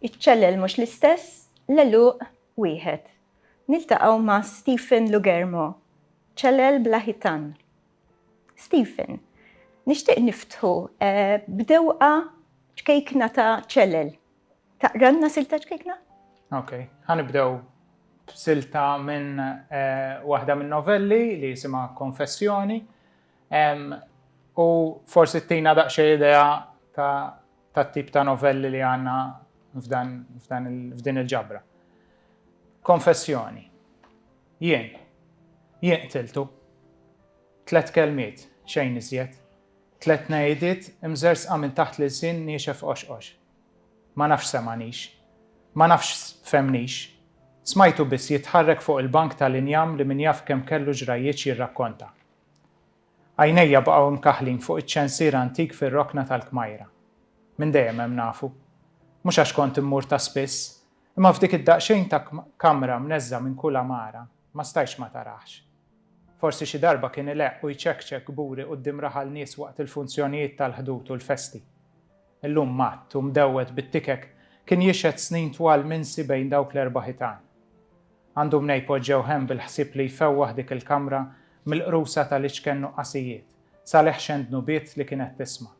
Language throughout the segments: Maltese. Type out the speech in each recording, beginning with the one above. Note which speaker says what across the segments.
Speaker 1: Iċ-ċellel mhux l-istess, l-għeluq wieħed. Niltaqgħu ma' Stephen Lugermo, ċellel bla ħitan. Stephen, nixtieq niftħu eh, b'dewqa ċkejkna ta' ċellel. Taqralna silta ċkikna? Ok,
Speaker 2: ħanibdew silta minn eh, waħda minn novelli li jisima Konfessjoni u forsi t-tina daqxie idea ta' tip ta' novelli li għanna f'din il-ġabra. Konfessjoni. Jien. Jien tiltu. Tlet kelmiet, xejn iżjed. Tlet najdit imżersqa minn taħt l-sin niexef oxqox. Ma nafx semagħnix. Ma nafx fehmnix. Smajtu biss jitħarrek fuq il-bank tal-injam li min jaf kemm kellu ġrajjietx jirrakkonta. Għajnejja baqgħu mkaħħlin fuq iċ-ċensier antik fir-rokna tal-kmajra. Minn dejjem hemm nafu. Mhux għax kont immur ta' spiss, imma f'dik id-daqsxejn ta' kamra mneżża minn kull għamara, ma stajtx ma taraħx. Forsi xi darba kien ileqq u jċekċek kburi quddiem raħal nies waqt il-funzjonijiet tal-ħdud u l-festi. Illum matt u mdewwed bit-tikek kien jixhed snin twal minsi bejn dawk l-erba' ħitan. Għandu mnej poġġew hemm bil-ħsieb li jfewwaħ dik il-kamra mill-qrusa tal-iċken nuqqasijiet, sal-eħxen dnubiet li kienet tisma'.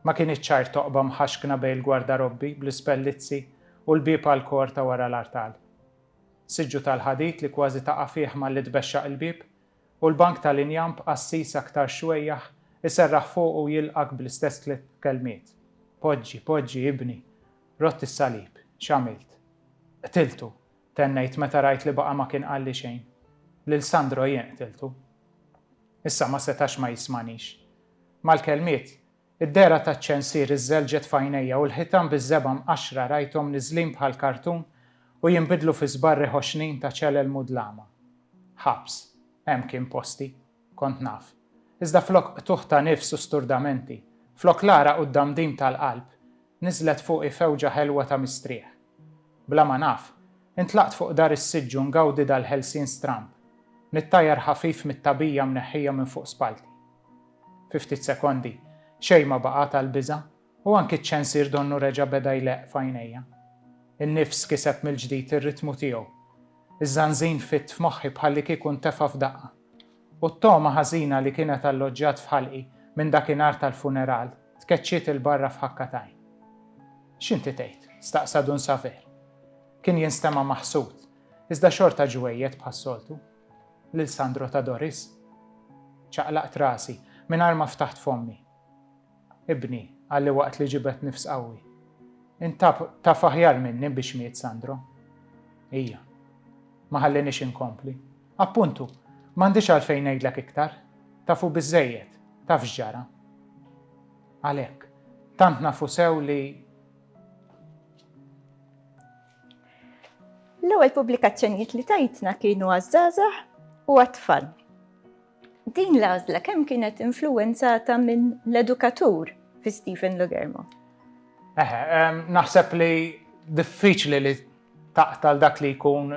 Speaker 2: Ma kinitx ċar toqba mħaxkna bejn il-gwardarobbi bl-ispellizzi u l-bieb għall-kor ta' wara l-artal. Siġġu tal-ħadid li kważi taqa' fih malli tbexxaq il-bieb U l-bank tal-injam b'qassis aktar xwejjaħ iserraħ fuqu u jilqgħek bl-istess tliet kelmiet, Poġġi, poġġi, ibni! Rott is-salib. X'għamilt? Qtiltu! tennejt meta rajt li baqa' ma kien qalli xejn. Lil Sandro jien qtiltu. Issa ma setax ma jismanix. Mal-kelmiet, Id-dehra taċ-ċensier iżżelġet f'għajnejja u l-ħitan biż-żebgħa mqaxxra rajthom niżlin bħal kartun u jinbidlu fi żbarri ħoxnin ta' ċelel mudlama. Ħabs. Hemm kien posti. Kont naf. Iżda flok qtugħ ta' nifs u sturdamenti, flok l-għaraq u d-damdim tal-qalb, niżlet fuqi fewġa ħelwa ta' mistrieħ. Bla ma naf, intlaqt fuq dar is-siġġ u ngawdi dal-ħelsien stramb, nittajjar ħafif mit-tagħbija mneħħija minn fuq spallti. Fi ftit sekondi, xejn ma baqa' tal-biża', u anki ċ-ċensier donnu reġa' beda jleqq f'għajnejja. In-nifs kiseb mill-ġdid ir-ritmu tiegħu. Iż-żanżin fitt f'moħħi bħallikieku ntefa' f'daqqa. U t-togħma ħażina li kienet alloġġjat f'ħalqi minn dakinhar tal-funeral tkeċċiet 'il barra f'ħakka t'għajn. X'inti tgħid? staqsa Dun Saver. Kien jinstema' maħsud, iżda xorta ġwejjed bħas-soltu. Lil Sandro ta' Doris. Ċaqlaqt rasi, mingħajr ma ftaħt fommi. Ibni, qalli waqt li ġibed nifs qawwi. Int taf, taf aħjar minni biex miet Sandro. Hija. Ma ħalliniex inkompli. Appuntu, m'għandix għalfejn ngħidlek iktar. Tafu biżżejjed, taf x'ġara. Għalhekk, tant nafu sew li.
Speaker 1: L-ewwel pubblikazzjonijiet li tajtna kienu għaż-żgħażagħ u għat-tfal. Din l-għażla kemm kienet influwenzata minn l-edukatur fi Stephen Logermo? Eħe, ehm, naħseb
Speaker 2: li diffiċli li taqtal dak li jkun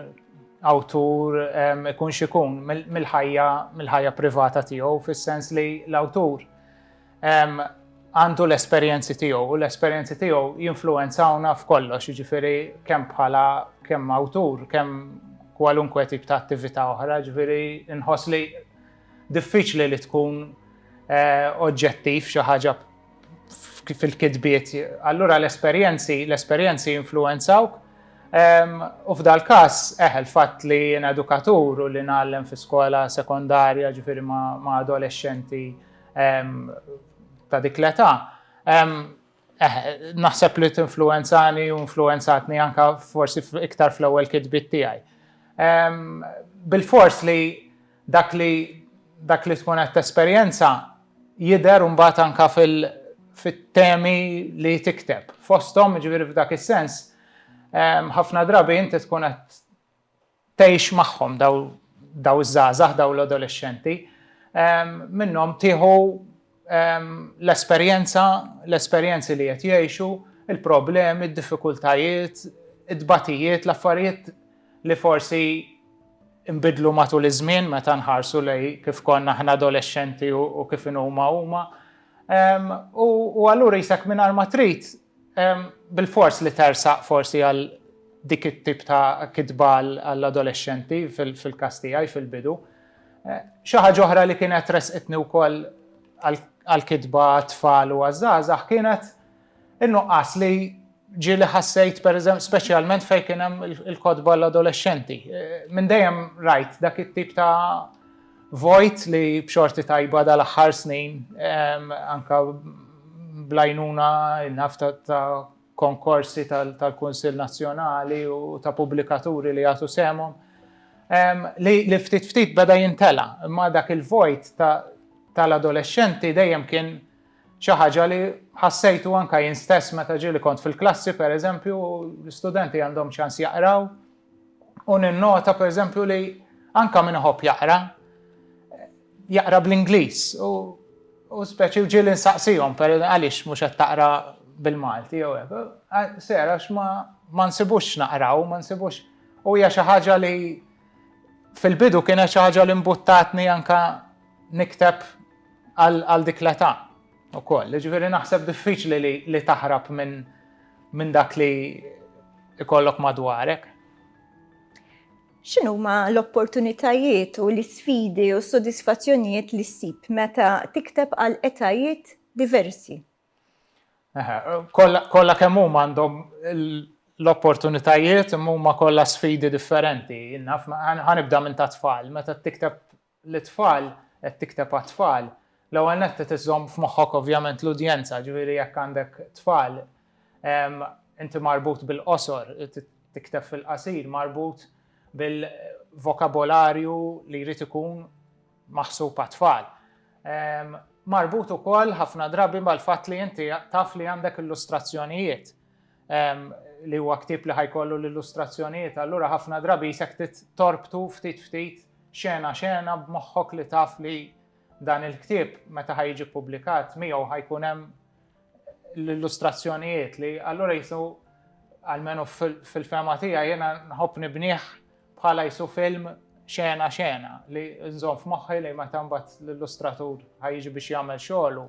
Speaker 2: awtur ehm, ikun xikun mill-ħajja mill-ħajja privata tiegħu fis-sens li l-awtur għandu l-esperjenzi tiegħu u l-esperjenzi tiegħu jinfluwenzawna f'kollox, jiġifieri kemm bħala kemm awtur, kemm kwalunkwe tip ta' attività oħra, ġifieri nħoss li diffiċli li tkun eh, oġġettiv xi ħaġa fil-kitbiet. Allura l-esperjenzi, l-esperjenzi influenzawk. U f'dal każ eħel fatt li jien edukatur u li nagħlem fi skola sekondarja ġifieri ma' adolescenti ta' dik l-età. Eh, naħseb li t-influenzani u influenzatni anka forsi iktar fl-ewwel kitbit tiegħi. Bil-fors li dak li dak li tkun qed tesperjenza jidher mbagħad anka fit-temi li tikteb. Fosthom, ġifieri f'dak is-sens, ħafna drabi inti tkun qed tgħix magħhom dawn iż-żgħażagħ, dawn l-adolexxenti, minnhom tieħu l-esperjenza, l-esperjenzi li qed jgħixu, il-problemi, d-diffikultajiet, it-tbatijiet, l-affarijiet li forsi nbidlu matul iż-żmien meta nħarsu lejn kif konna aħna adolexxenti u kif inhuma huma. U allura qisek mingħajr ma trid Bilfors li tersaq forsi għal dik it-tip ta' kitba għall-adolexxenti fil-każ tiegħi fil-bidu. Xi ħaġa oħra li kienet ressqitni wkoll għall-kitba għat-tfal u għaż-żgħażagħ kienet in-nuqqas li ġieli ħassejt pereżempju speċjalment fejn kien hemm il-kotba għall-adolexxenti. Minn dejjem rajt dak it-tip ta' Vojt li b'xorti tajba dal-aħħar snin, anke bl-għajnuna naf ta' konkorsi tal-Kunsill Nazzjonali u ta' pubblikaturi li jagħtu sehemhom, li ftit ftit beda jimtela', imma dak il-vojt tal-adolexxenti dejjem kien xi ħaġa li ħassejtu anke jien stess meta ġieli kont fil-klassi, pereżempju, l-istudenti għandhom ċans jaqraw, u ninnota pereżempju li anke min iħobb jaqra, jaqra bl-Ingliż u u speċi u ġieli nsaqsihom per għaliex mhux qed taqra bil-Malti jew hekk. Sera x'ma ma nsibux naqraw, ma nsibux u hija xi ħaġa li fil-bidu kienet xi ħaġa li mbuttatni anke nikteb għal dik l-età. Ukoll, jiġifieri naħseb diffiċli li li taħrab minn minn dak li ikollok madwarek.
Speaker 1: X'inhuma l-opportunitajiet u l-isfidi u s-sodisfazzjonijiet li ssib meta tikteb għal etajiet diversi? Eħe, kollha
Speaker 2: kollha kemm huma għandhom l-opportunitajiet imma huma kollha sfidi differenti. Naf, ħa nibda minn tat-tfal, meta tikteb lit-tfal, qed tikteb għat-tfal, l-ewwel nett trid iżżomm f'moħħok ovvjament l-udjenza, ġifieri jekk għandek tfal, inti marbut bil-qosor, tikteb fil-qasir, marbut bil-vokabolarju li jrid ikun maħsub għat-tfal. Marbut ukoll ħafna drabi mal-fatt li inti taf li għandek illustrazzjonijiet. li huwa ktieb li ħa jkollu l-illustrazzjonijiet, allura ħafna drabi jisek torbtu ftit ftit xena xena b'moħħok li taf li dan il-ktieb meta ħa jiġi publikat miegħu ħa jkun hemm l-illustrazzjonijiet li allura jisu għalmenu fil-fema tija jena nħobb nibniħ bħala jisu film xena xena li nżon f'moħħi li meta mbagħad l-illustratur ħajġi biex jagħmel xogħlu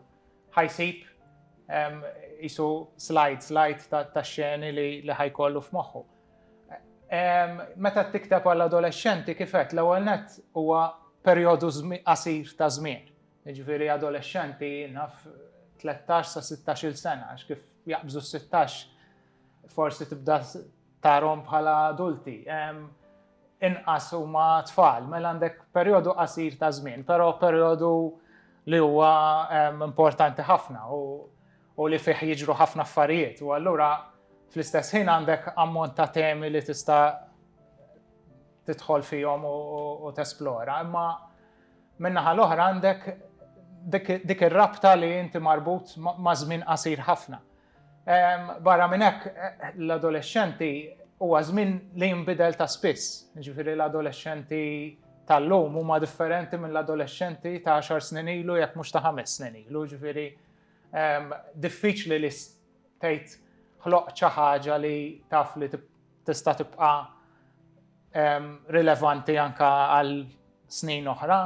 Speaker 2: ħa jsib qisu slide, slide tax-xeni li ħa jkollu f'moħħu. Meta tikteb għall-adolexxenti kif għedt l-ewwel nett huwa perjodu qasir ta' żmien. Jiġifieri adolexxenti naf 13 sa 16-il sena għax kif jaqbżu s-16 forsi tibda tarhom bħala adulti. inqas huma tfal, mela għandek perjodu qasir ta' żmien, però perjodu li huwa importanti ħafna u li fih jiġru ħafna affarijiet. U allura fl-istess ħin għandek ammont ta' temi li tista' tidħol fihom u tesplora, imma minnaħa l-oħra għandek dik ir-rabta li inti marbut ma' żmien qasir ħafna. Barra minn hekk, l-adolexxenti huwa żmien li jinbidel ta' spiss. Jiġifieri l-adolexxenti tal-lum huma differenti mill-adolexxenti ta' għaxar snin ilu jekk mhux ta' ħames snin ilu. Jiġifieri diffiċli li tgħid ħloqt xi ħaġa li taf li tista' tibqa' rilevanti anke għal snin oħra,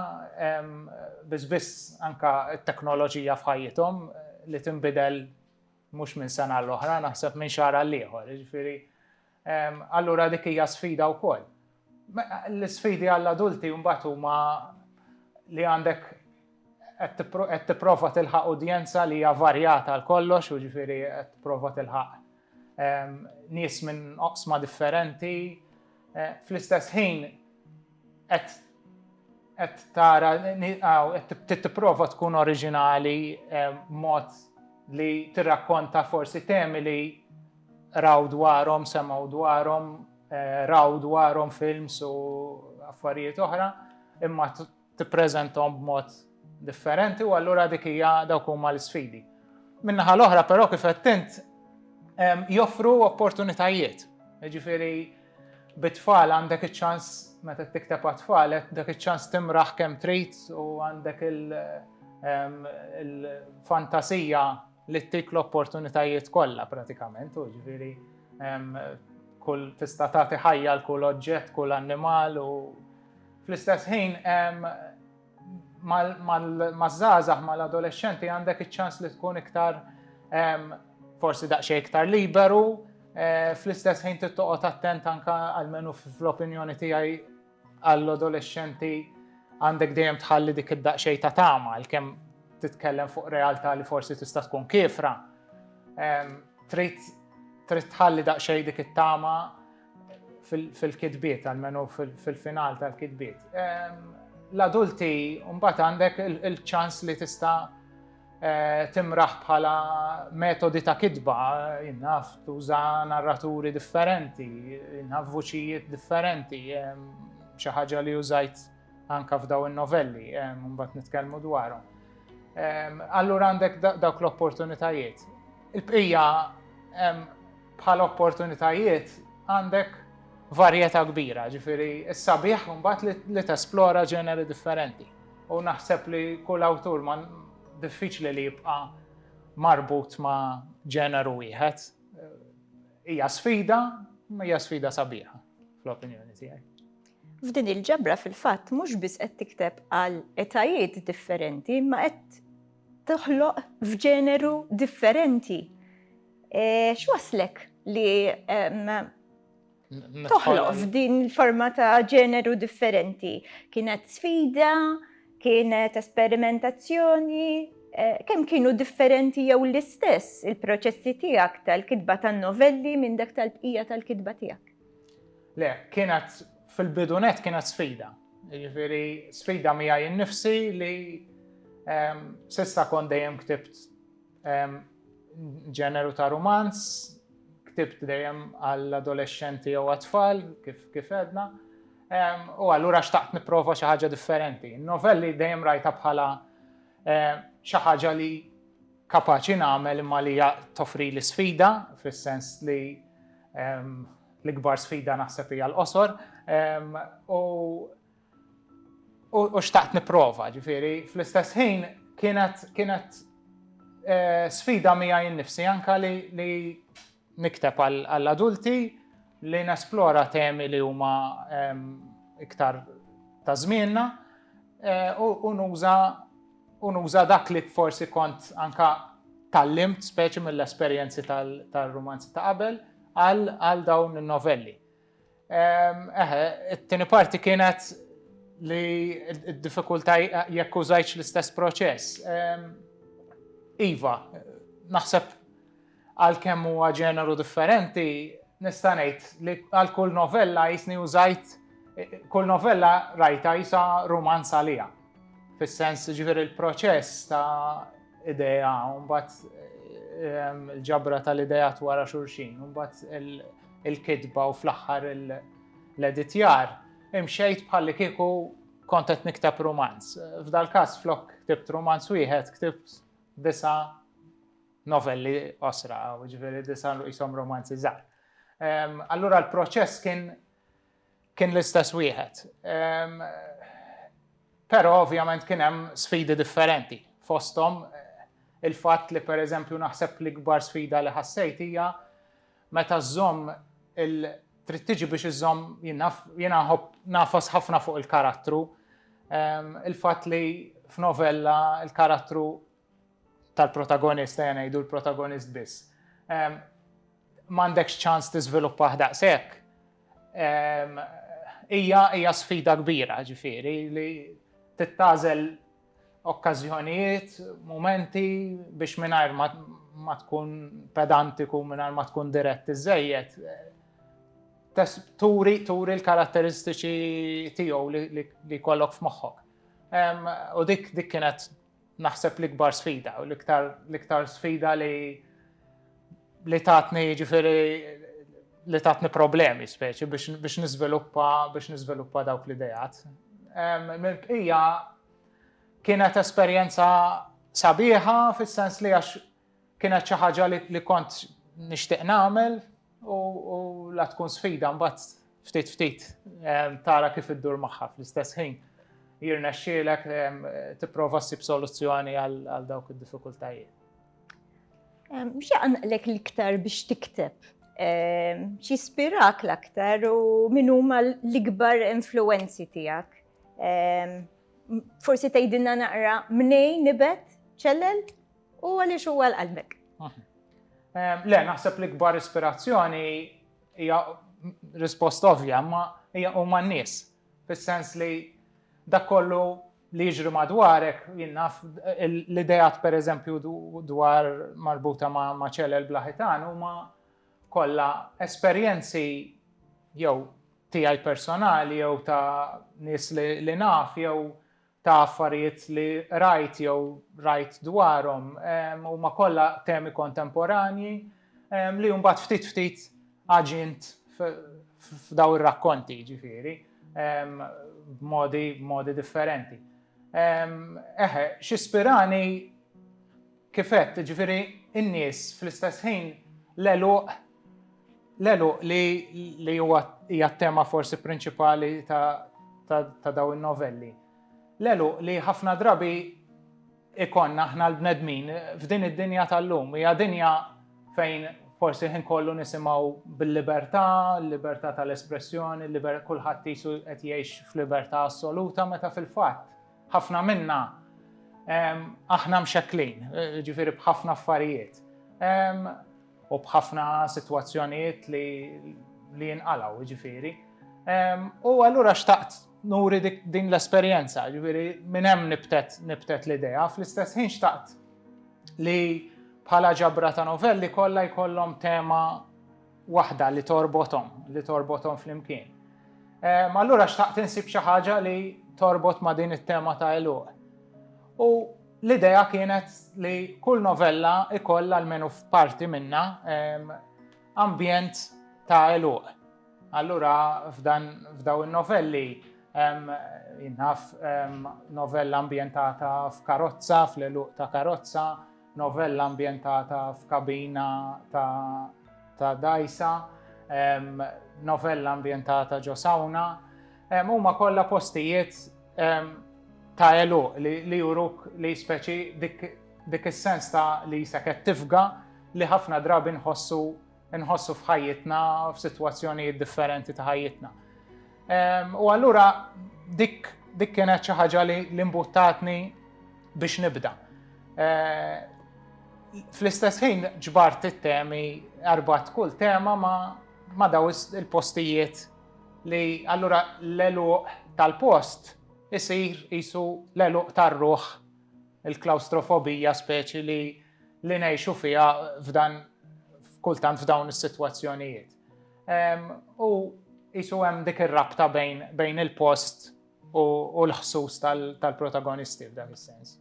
Speaker 2: biss biss anke t-teknoloġija f'ħajjithom li tinbidel mhux minn sena l-oħra, naħseb minn xahar għal ieħor. Jiġifieri allura dik hija sfida wkoll. L-isfidi għall-adulti mbagħad huma li għandek qed tipprova tilħaq udjenza li hija varjata għal kollox, u ġifieri qed tipprova tilħaq ehm, nies minn oqsma differenti. Eh, fl-istess ħin qed qed tara qed tipprova tkun oriġinali ehm, mod li tirrakkonta forsi temi li raw dwarhom, semgħu dwarhom Eh, raw dwarhom films u affarijiet oħra, imma tippreżenthom b'mod differenti u allura dik hija dawk huma l-isfidi. Minnaħa l-oħra però kif qed int joffru opportunitajiet. Ġifieri bit-tfal għandek iċ-ċans meta tikteb għat-tfal dak iċ-ċans timraħ kemm trid u għandek il-fantasija li ttik l-opportunitajiet kollha pratikament, u ġifieri kull tista' tagħti ħajja l kull oġġett, kull annimal u fl-istess ħin maż-żgħażagħ mal-adolexxenti għandek iċ-ċans li tkun iktar forsi daqsxejn iktar liberu, eh, fl-istess ħin tittoqgħod attent anka għalmenu fl-opinjoni tiegħi Għall-adolexxenti għandek dejjem tħalli dik id-daqsxejn ta' tama għalkemm titkellem fuq realtà li forsi tista' tkun kifra. Trid trid tħalli daqsxejn dik it-tama fil-kitbiet, għalmenu fil-final tal-kitbiet. L-adulti mbagħad għandek il-ċans li tista' timraħ bħala metodi ta' kitba, jinnaf tuża narraturi differenti, jinnaf vuċijiet differenti, xi ħaġa li użajt anka f'daw in-novelli, mbagħad nitkellmu dwarhom. Allura għandek dawk l-opportunitajiet. Il-bqija bħal opportunitajiet għandek varjetà kbira, ġifieri s-sabiħ mbagħad li tesplora ġeneri differenti. u naħseb li kull awtur ma diffiċli li jibqa' marbut ma' ġeneru wieħed. Hija sfida, ma hija sfida sabiħa fl-opinjoni tiegħi. F'din
Speaker 1: il-ġabra fil-fatt mhux biss qed tikteb għal etajiet differenti, ma qed toħloq f'ġeneru differenti. E, X'waslek li toħloq f'din il-forma ta' ġeneru differenti. Kienet sfida, kienet esperimentazzjoni, eh, kemm kienu differenti jew l-istess il-proċessi tiegħek tal-kitba tan-novelli minn dak tal-bqija tal-kitba tiegħek? Le,
Speaker 2: kienet fil-bidunet kienet sfida. Jiġifieri sfida mija jinnifsi li ehm, sissa kon dejjem ktibt Ġeneru ta' rumanz, ktibt dejjem għall-adolescenti jew għat-tfal, kif edna. U allura xtaqt niprofa xi ħaġa differenti. Novelli dejjem rajta bħala xi ħaġa li kapaċi nagħmel imma li toffri li sfida, fis-sens li l-ikbar sfida naħseb hija l-qosor. U u xtaqt nipprova, ġifieri fl-istess ħin kienet kienet eh, sfida miegħi nnifsi anka li li nikteb għall-adulti li nesplora temi li huma ehm, iktar ta' żmienna eh, u nuża u nuża dak li forsi kont anka tallimt speċi mill-esperjenzi tal-romanzi ta' qabel għal dawn il-novelli. Eħe, it-tieni parti kienet li d-diffikultà jekk użajtx l-istess proċess. Iva, naħseb għal kemm huwa ġeneru differenti, nista' ngħid li għal kull novella jisni użajt kull novella rajta jisa rumanz għalija. Fis-sens ġifieri l-proċess ta' idea, mbagħad il-ġabra tal-idejat wara xulxin, mbagħad il-kitba u fl-aħħar l-editjar, imxejt bħalli kieku kont qed niktab romanz. F'dal-każ flok ktibt romanz wieħed, ktibt disa novelli osra, ġifieri disa jisom romanzi żgħar. Allura l-proċess kien Kien l-istess wieħed. Però ovvjament kien hemm sfidi differenti. Fosthom il-fatt li pereżempju naħseb l-ikbar sfida li ħassejt hija meta żżomm il trid tiġi biex iżżomm jiena nafas ħafna fuq il-karattru. Il-fatt li f'novella il-karattru tal-protagonist, ejja ngħidu l-protagonist biss, ehm, m'għandekx ċans tiżviluppah daqshekk, ehm, hija hija sfida kbira ġifieri li tittażel okkażjonijiet, momenti biex mingħajr ma tkun pedantiku, mingħajr ma tkun dirett iżejjed, turi turi l-karatteristiċi tiegħu li kollok f'moħħok. U dik dik kienet Naħseb l-ikbar sfida u l-iktar sfida li li tatni ġifiri li tatni problemi speċi biex nizviluppa biex nizviluppa dawk l-idejat. Ija kienet esperjenza sabiħa fis-sens li għax Kienet xi ħaġa li kont nixtieq nagħmel u la tkun sfida mbagħad ftit ftit ehm, tara kif iddur magħha fl-istess ħin jirna xielek ehm, tipprova ssib soluzzjoni għal dawk id-diffikultajiet. Ehm, xi
Speaker 1: għanqlek l-iktar biex tikteb? Xi spirak l-aktar u min huma l-ikbar influenzi tiegħek? Forsi tgħidilna naqra mnejn nibet ċellel? U għaliex huwa l-qalbek?
Speaker 2: Le, naħseb li kbar ispirazzjoni hija risposta ovvja, ma hija huma n-nies. Fis-sens li dak kollu li jiġri madwarek, jinnaf l-idejat per eżempju dwar marbuta ma' ċelel blaħitan huma kollha esperjenzi jew tiegħi personali jew ta' nies li naf jew ta' affarijiet li qrajt jew rajt dwarhom huma kollha temi kontemporanji li mbagħad ftit ftit aġint f'daw ir-rakkonti ġifieri b'modi differenti. Eħe, xispirani Kif għedt, jiġifieri n-nies fl-istess ħin l-għeluq, l-għeluq li li huwa hija t-tema forsi prinċipali ta' ta' dawn in-novelli. L-għeluq li ħafna drabi ikollna aħna l-bnedmin f'din id-dinja tal-lum. Hija dinja fejn forsi l-ħin kollu nisimgħu bil-libertà, l-libertà tal-espressjoni, kulħadd qisu qed jgħix f'libertà assoluta meta fil-fatt Ħafna minna aħna mxekklin, ġifieri b'ħafna affarijiet u b'ħafna sitwazzjonijiet li jinqalgħu, ġifieri. U allura xtaqt nuri din l-esperjenza, ġifieri minn hemm nibtet l-idea, fl-istess ħin xtaqt li bħala ġabra ta' novelli kollha jkollhom tema waħda li torbothom, li torbothom flimkien. Ehm, allura xtaqt insib xi ħaġa li torbot ma' din it-tema ta' eluq. U l-idea kienet li kull novella ikoll għalmenu f'parti minna ehm, ambjent ta' eluq. Allura f'dan f'daw in-novelli ehm, jinnaf novella ambjentata f'karozza, fl-eluq ta' karozza, Novella ambjentata f'kabina ta' dajsa, novella ambjentata ġo sawna, huma kollha postijiet ta' eluq li juruk li speċi dik is-sens ta' li jisak qed tifga li ħafna drabi nħossu Inħossu f'ħajjitna, f'sitwazzjonijiet differenti ta' ħajjitna. Ehm, u allura dik dik kienet xi ħaġa li l-imbuttatni biex nibda. Ehm, fl-istess ħin ġbart it-temi, arbat kull tema ma, ma daw il-postijiet li allura l-eluq tal-post isir isu l-eluq tar-ruħ il-klaustrofobija speċi li li ngħixu fiha f'dan kultant f'dawn is-sitwazzjonijiet. U jisu hemm dik ir-rabta bejn il-post u l-ħsus tal-protagonisti f'dan is-sens.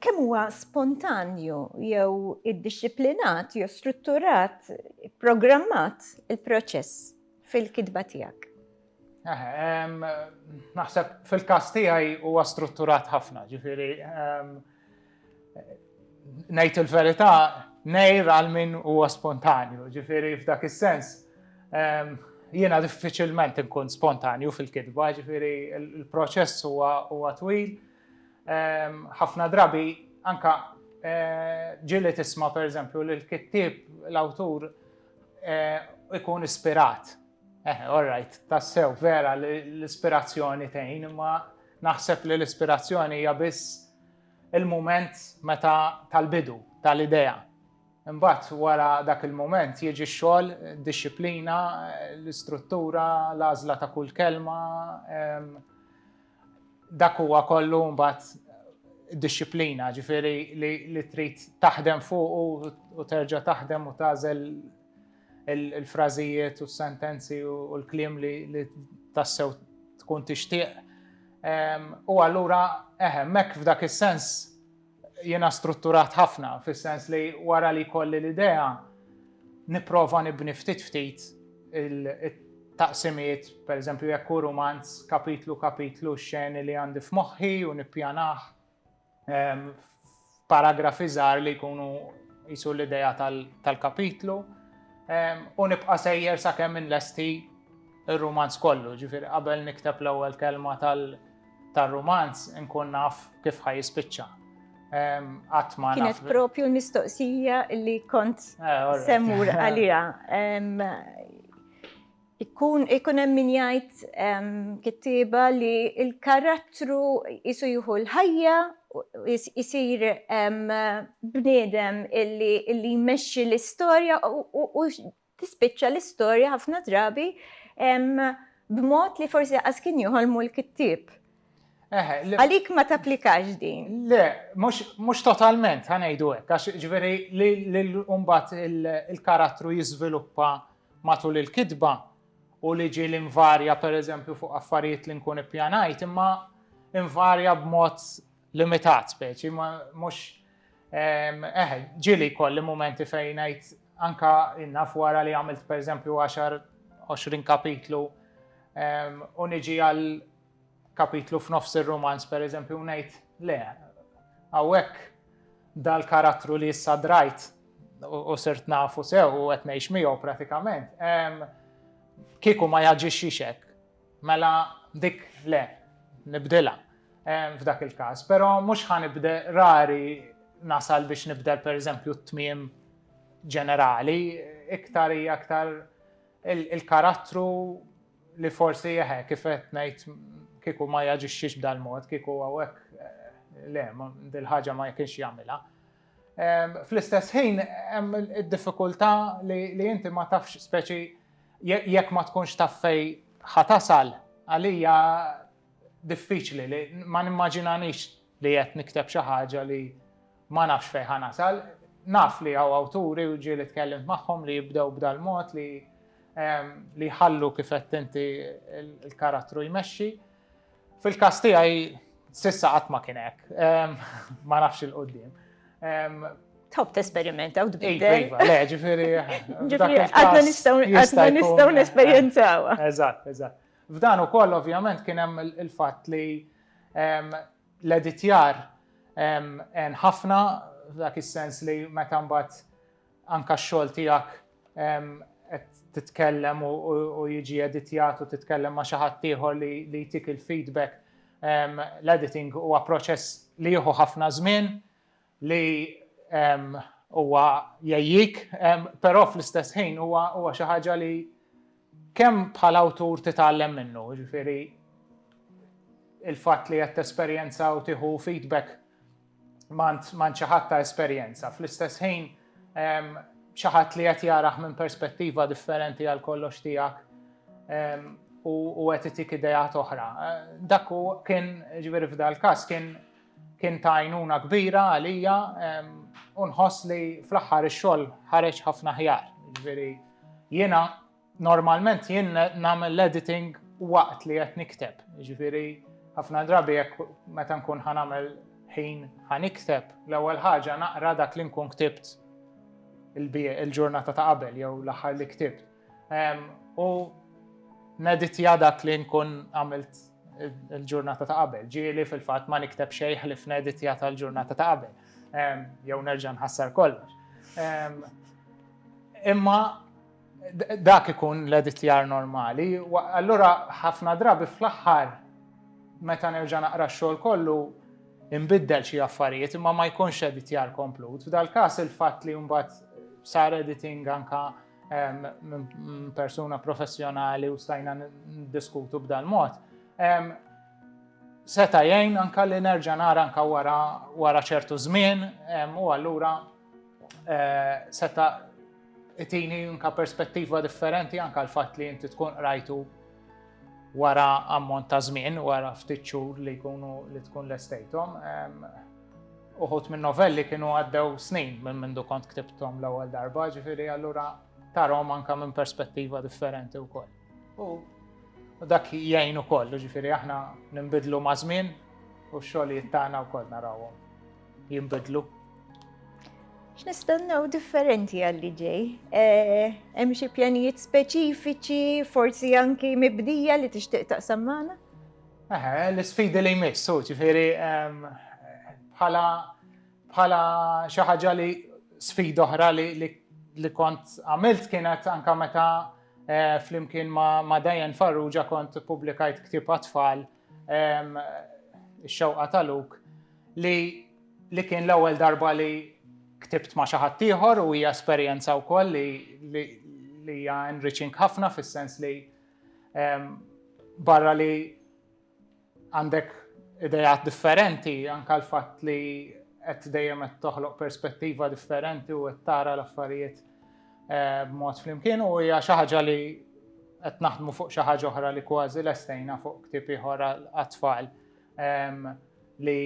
Speaker 1: Kemm huwa spontanju jew iddixxiplinat jew strutturat, programmat il-proċess fil-kitba tiegħek?
Speaker 2: Naħseb fil-każ tiegħi huwa strutturat ħafna, ġifieri ngħid il-verità nejr għal min huwa spontanju, ġifieri f'dak is-sens jiena diffiċilment inkun spontanju fil-kitba, ġifieri il-proċess huwa twil. Ħafna drabi anka ġili tisma' pereżempju li l-kittieb l-awtur ikun ispirat Eh, all right, tassew vera l-ispirazzjoni tgħin, imma naħseb li l-ispirazzjoni hija biss il-moment meta tal-bidu, tal-idea. Imbagħad wara dak il-moment jiġi x-xogħol, disċiplina, l-istruttura, l-għażla ta' kull kelma, ehm, Dak huwa kollu mbagħad dixxiplina, ġifieri li trid taħdem fuq u terġa' taħdem u tagħżel il-frażijiet u s-sentenzi u l-kliem li tassew tkun tixtieq. U allura eħe, mek f'dak is-sens Jiena strutturat ħafna, fis-sens li wara li jkolli l-idea, nipprova nibni ftit ftit il-taqsimiet, pereżempju jekk hu rumanz, kapitlu kapitlu x-xeni li għandi f'moħħi u nippjanah f'paragrafi żgħar li jkunu qisu l-idea tal-kapitlu u nibqa' sejjer sakemm inlesti r-rumanz kollu, ġifieri qabel nikteb l-ewwel kelma tal- tar-rumanz inkun naf kif ħaj jispiċċa.
Speaker 1: Għatma. Kienet propju l-mistoqsija li kont eh, semmur għalija. Ikun ikun hemm min jgħid kittieba li l-karattru isu jieħu l-ħajja jisir bniedem illi jmexxi l-istorja u tispiċċa l-istorja ħafna drabi b'mod li forsi qas kien joħolmu l-kittieb. Għalik ma tapplikax din. Le,
Speaker 2: mhux totalment ħanejdu hekk, għax ġifieri li mbagħad il-karattru jiżviluppa matul il-kitba u li ġieli invarja pereżempju fuq affarijiet li nkun ippjanajt, imma invarja b'mod limitat speċi, ma mhux eh, ġieli kolli momenti fejn ngħid anka innaf wara li għamilt pereżempju 10-20 kapitlu u niġi għal kapitlu f'nofs ir-romanz pereżempju ngħid le hawnhekk dal-karattru li issa drajt u sirt nafu sew u qed ngħix miegħu pratikament kieku ma jaġixxix hekk Mela dik le, nibdilha f'dak il-każ, però mhux ħa nibde, rari nasal biex nibdel pereżempju t-tmiem ġenerali, iktar hija iktar il-karattru li forsi eħe kif qed ngħid kieku ma jaġixxix b'dal-mod, kieku hawnhekk le, dil-ħaġa ma kienx jagħmilha. Fl-istess ħin hemm id-diffikultà li inti ma tafx speċi jekk ma tkunx taf fejn ħa tasal għalija diffiċli li ma nimmaġinanix li qed nikteb xi ħaġa li ma nafx fejn ħa nasal. Naf li hawn awturi u ġieli tkellimt magħhom li jibdew b'dal-mod li li jħallu kif qed inti l-karattru jmexxi. Fil-każ tiegħi sissa qatt ma kien hekk. Ma nafx il-qudiem.
Speaker 1: Tħobb tesperimenta u tbiddel. Iva, le, ġifieri.
Speaker 2: Ġifieri, għadna
Speaker 1: nistgħu għadna nistgħu nesperjenzawa. Eżatt, eżatt.
Speaker 2: F'dan ukoll ovvjament kien hemm il-fatt li l-editjar ħafna dak is-sens li meta mbagħad Anka x-xogħol tiegħek qed titkellem u jiġi editjat u titkellem ma' xi ħadd ieħor li jtik il-feedback. L-editing huwa proċess li jieħu ħafna żmien li huwa jgħejjik, però fl-istess ħin huwa xi ħaġa li kemm bħala awtur titgħallem minnu, jiġifieri il-fatt li qed tesperjenza u tieħu feedback m'għand m'għand xi ħadd ta' esperjenza. Fl-istess ħin xi ħadd li qed jarah minn perspettiva differenti għal kollox tiegħek u qed itik idejat oħra. Dak u kien ġifieri f'dal-każ kien kien ta' għajnuna kbira għalija u nħoss li fl-aħħar ix-xogħol ħareġ ħafna ħjar. Ġifieri jiena Normalment jien nagħmel l-editing waqt li qed nikteb. Ġifieri ħafna drabi jekk meta nkun ħanamel ħin ħanikteb l-ewwel ħaġa naqra dak li nkun ktibt il-ġurnata ta' qabel jew l-aħħar li ktibt. U neditja dak li nkun għamilt il-ġurnata ta' qabel. Ġieli fil-fatt ma nikteb xejn ħlif neditja tal-ġurnata ta' qabel. Jew nerġa' nħassar kollox. Imma Dak ikun l-editjar normali. Allura ħafna drabi fl-aħħar meta nerġa' naqra x-xogħol kollu inbiddel xi affarijiet imma ma jkunx editjar komplut. F'dal-każ il-fatt li mbagħad sar editing anka persuna professjonali u stajna diskutu b'dal-mod. Seta' jgħin anka li nerġa' nara anka wara ċertu żmien u allura eh, seta' itini anka perspettiva differenti anka l-fatt li inti tkun qrajtu wara ammont ta' żmien, wara ftit xhur li jkunu li tkun l-estejtom. Uħut minn novelli kienu għaddew snin minn mindu kont ktibtom l-ewwel darba, ġifieri allura tarhom anka minn perspettiva differenti wkoll. U dak jgħin ukoll, ġifieri aħna nimbidlu ma' żmien u x-xogħlijiet tagħna wkoll narawhom. jinbidlu. X'nistennew
Speaker 1: differenti għalli ġej? Eh, hemm xi pjanijiet speċifiċi, forsi anki mibdija li tixtieq taqsam magħna? Eħe,
Speaker 2: l-isfidi li jmissu, ġifieri ehm, bħala bħala xi ħaġa li sfida oħra li kont għamilt kienet anka meta eh, flimkien ma' Dajan Farrugia kont publikajt ktib għatfall Ix-xewqa ta' Luke li li kien l-ewwel darba li ktibt ma' xi ħadd ieħor u hija esperjenza wkoll li li li hija enriching ħafna fis-sens li barra li għandek idejat differenti anka l-fatt li qed dejjem qed toħloq perspettiva differenti u qed tara l-affarijiet b'mod flimkien u hija xi ħaġa li qed naħdmu fuq xi ħaġa oħra li kważi lestejna fuq ktieb ieħor għat-tfal li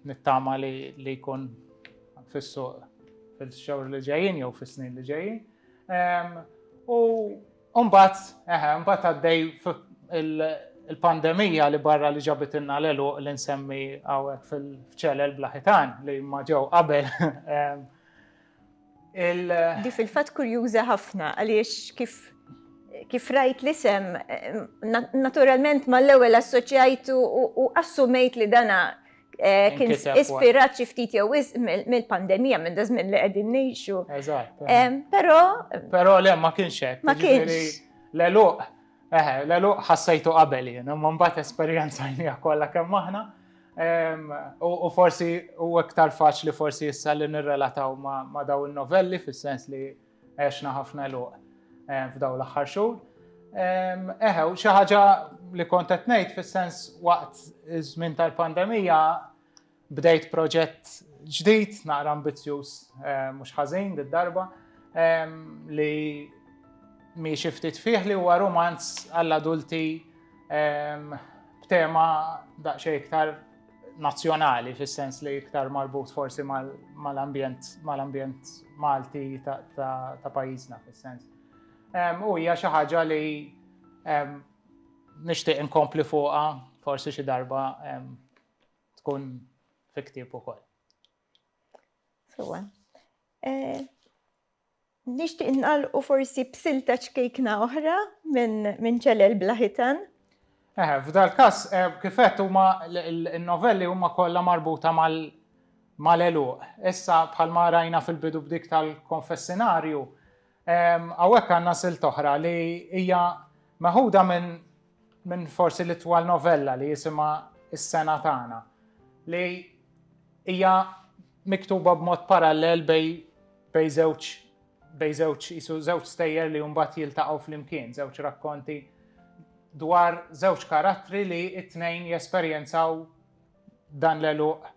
Speaker 2: nittama li jkun fis-suq fil-xhur li ġejjin jew fis-snin li ġejjin. U mbagħad, eħe, mbagħad għaddej il-pandemija li barra li ġabitilna l-elu li nsemmi hawnhekk fil-ċelel blaħitan li ma ġew qabel.
Speaker 1: Di fil-fatt kurjuża ħafna għaliex kif kif rajt l-isem, naturalment ma l-ewel assoċjajtu u assumejt li dana eh, kien ispirat xi ftit jew mill-pandemija minn da żmien li qegħdin ngħixu. Eżatt. Eh,
Speaker 2: però
Speaker 1: Però le ma kienx hekk.
Speaker 2: Ma jiġifieri kienx.
Speaker 1: L-eluq
Speaker 2: Eħe, l-għeluq ħassejtu qabel jien, imma mbagħad esperjenzajniha kollha kemm aħna. U forsi u iktar faċli forsi issa li nirrelataw ma' daw il-novelli fis-sens li għexna ħafna luq f'daw l-aħħar xhur. Eħe, u xi ħaġa li kont qed ngħid fis-sens waqt iż-żmien tal-pandemija Bdejt proġett ġdid, naqra ambizzjuż mhux ħażin did-darba, li miexi ftit fih li huwa rumanz għall-adulti b'tema daqsxejn iktar nazzjonali fis-sens li iktar marbut forsi mal-ambjent mal-ambjent Malti ta' pajjiżna fis-sens. U hija xi ħaġa li nixtieq inkompli fuqha forsi xi darba tkun fi ktieb ukoll. Sewa.
Speaker 1: Eh, nixtieq nqalqu forsi b'silta ċkejkna oħra minn ċelel blaħitan. Eh, f'dal
Speaker 2: każ eh, kifet huma n-novelli huma kollha marbuta mal mal-eluq. Issa bħalma rajna fil-bidu b'dik tal-konfessinarju, Hawnhekk għandna silta oħra li hija meħuda minn minn forsi l-itwal novella li jisimha Is-Sena Tagħna li hija miktuba b'mod parallel bej bej żewġ bej żewġ qisu żewġ stejjer li mbagħad jiltaqgħu flimkien, żewġ rakkonti dwar żewġ karattri li t-tnejn jesperjenzaw dan l-għeluq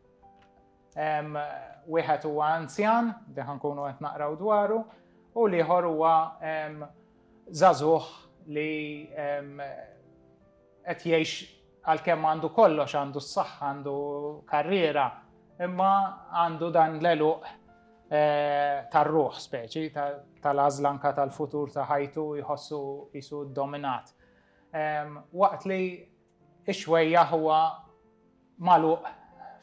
Speaker 2: Wieħed huwa anzjan, li ħankunu qed naqraw dwaru, u l-ieħor huwa żagħżugħ li qed jgħix għalkemm għandu kollox, għandu s-saħħa, għandu karriera, imma għandu dan l-eluq eh, tar-ruħ speċi, tal-azlanka tal-futur ta' ħajtu jħossu jisu dominat. Waqt li Ix-xwejjaħ huwa magħluq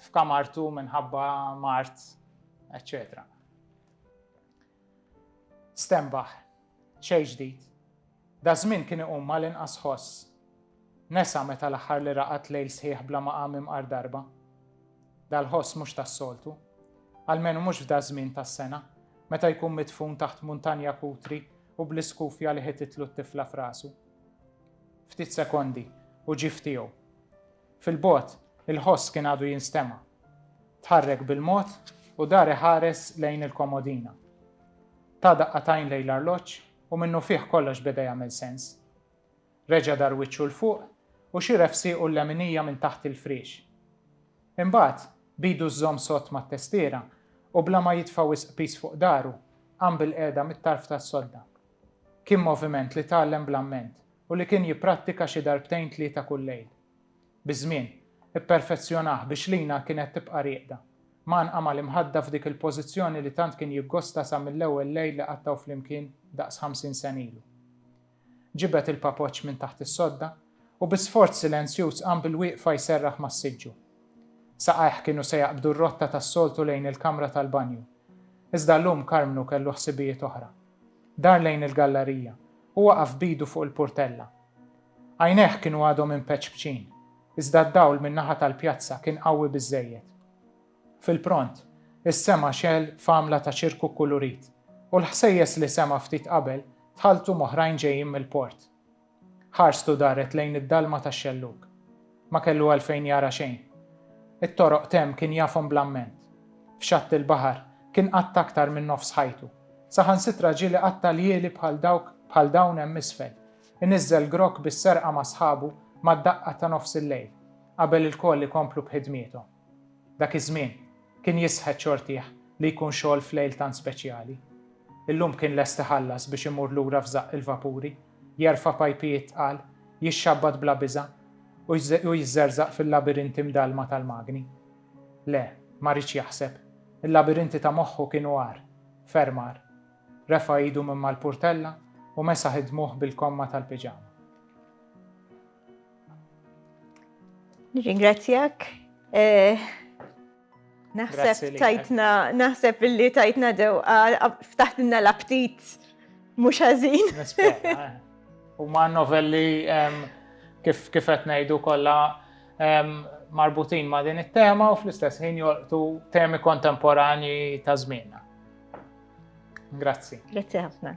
Speaker 2: f'kamartu minħabba mard, eċċetera. Stenbaħ, xejn ġdid. Daż-żmien kien iqum mal-inqas ħoss. Nesa meta l-aħħar li raqad lejl sħiħ bla ma qam imqar darba. Dal-ħoss mhux tas-soltu. Almenu mhux f'daż-żmien tas-sena, meta jkun midfun taħt muntanja kutri u bl-iskufja li ħititlu t-tifla f'rasu. Ftit sekondi u ġie f'tiegħu. Fil-bogħod, il-ħoss kien għadu jinstema'. Tħarrek bil-mod u dar iħares lejn il-komodina. Ta daqqatajn lejn l-arloġġ u minnufih kollox beda jagħmel sens. Reġa' dar wiċċu 'l fuq u xira f'siequ l-leminija minn taħt il-friex. Imbagħad, b'idu żżomm sott mat-testiera u bla ma jitfa' wisq piż fuq dahru, qam bilqiegħda mit-tarf tas-sodda. Kien moviment li tgħallem bl-amment u li kien jipprattika xi darbtejn tlieta kull lejl. Biż-żmien, ipperfezzjonah biex Lina kienet tibqa' rieqda, mgħannqa mal-imħadda f'dik il-pożizzjoni li tant kien jiggosta sa mill-ewwel lejl li qattgħu flimkien daqs ħamsin sena ilu. Ġibed il-papoċċ minn taħt is-sodda u bi sforz silenzjuż qam bilwieqfa jserraħ mas-siġġu. Saqajh kienu se jaqbdu r-rotta tas-soltu lejn il-kamra tal-banju. Iżda llum Karmnu kellu ħsibijiet oħra. Dar lejn il-gallarija u waqaf b'idu fuq il-purtella. Għajnejh kienu għadhom impeċpċin, iżda d-dawl min-naħa tal-pjazza kien qawwi biżżejjed. Fil-pront, is-sema xegħel f'għamla ta' ċirku kkulurit, u l-ħsejjes li sema' ftit qabel tħalltu m'oħrajn ġejjin mill-port. Ħarstu daret lejn id-dalma tax-xellug. Ma kellu għalfejn jara xejn. It-toroq t'hemm kien jafhom bl-amment. F'xatt il-baħar, kien qatta' aktar minn nofs ħajtu. Saħansitra ġieli qatta' ljieli bħal dawk bħal dawn hemm isfel. Iniżżel grokk bis-serqa ma' sħabu mad-daqqa ta' nofs il-lejl, qabel ilkoll ikomplu b'ħidmiethom. Dak iż-żmien, kien jisħet xortih li jkun xogħol f'lejl tant speċjali. Illum kien lest iħallas biex imur lura f'żaqq il-vapuri, jerfa' pajpijiet tqal, jixxabbat bla biża', u jiżżerżaq fil-labirinti mdallma tal-magni. Le, ma riedx jaħseb. Il-labirinti ta' moħħu kienu agħar, ferm agħar. Refa' idu minn mal-purtella u mesaħ id-dmugħ bil-komma tal-piġama.
Speaker 1: Nirringrazzjak. Eh, naħseb tajtna, naħseb illi tajtna dew, ftaħtinna l-aptit mhux ħażin. Eh.
Speaker 2: U ma' novelli kif kif qed ngħidu kollha marbutin ma' din it-tema u fl-istess ħin jolqtu temi kontemporani
Speaker 1: ta' żmienna.
Speaker 2: Grazzi.
Speaker 1: Grazzi
Speaker 2: ħafna.